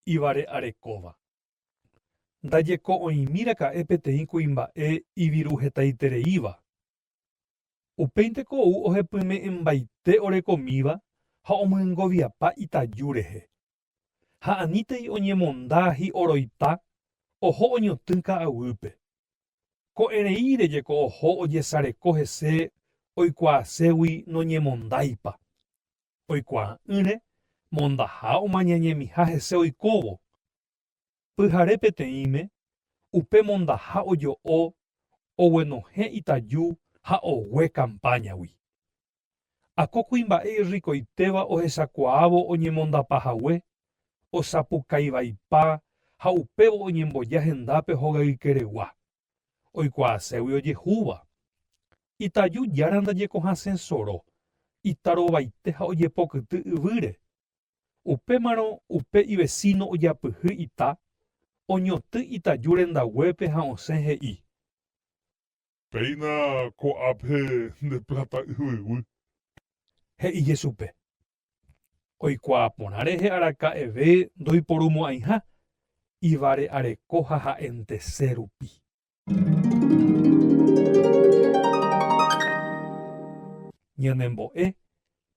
Ivare'arekóva. Ndajeko'õimi raka'e peteĩ kuimba'e iviruhetaitereíva. Upéinte ko ou ohepyme'ẽmbaite orekomíva ha omyengoviapa itaju rehe, ha anítei oñemonda hi'oroipa oho oñotỹ ka'aguýpe. Ko'ẽreíre jeko oho ojesareko hese oikuaaségui noñemondáipa. Oikuaa'ỹre mondaha omañañemiha hese oikóvo. Pyhare peteĩme, upe mondaha ojo'o oguenohẽ itaju ha ogue kampáñagui. Ha ko kuimba'e irrikoitéva ohechakuaávo oñemondapa hague, osapukaivaipa ha upévo oñemboja hendápe hogaykeregua, oikuaaségui ojehúva. Itaju jára ndajekohasẽ soro, itarovaite ha ojepokyty yvýre. Upémarõ upe ivesíno ojapyhy ita, oñotỹ itaju rendaguépe ha osẽ he'i. Péina ko'ápe nde pláta yvyguy. He'i Jesupe. Oikuaa porã rehe araka'eve ndoiporumo'ãiha ivare'areko ha ha'entese rupi. Ñanembo'e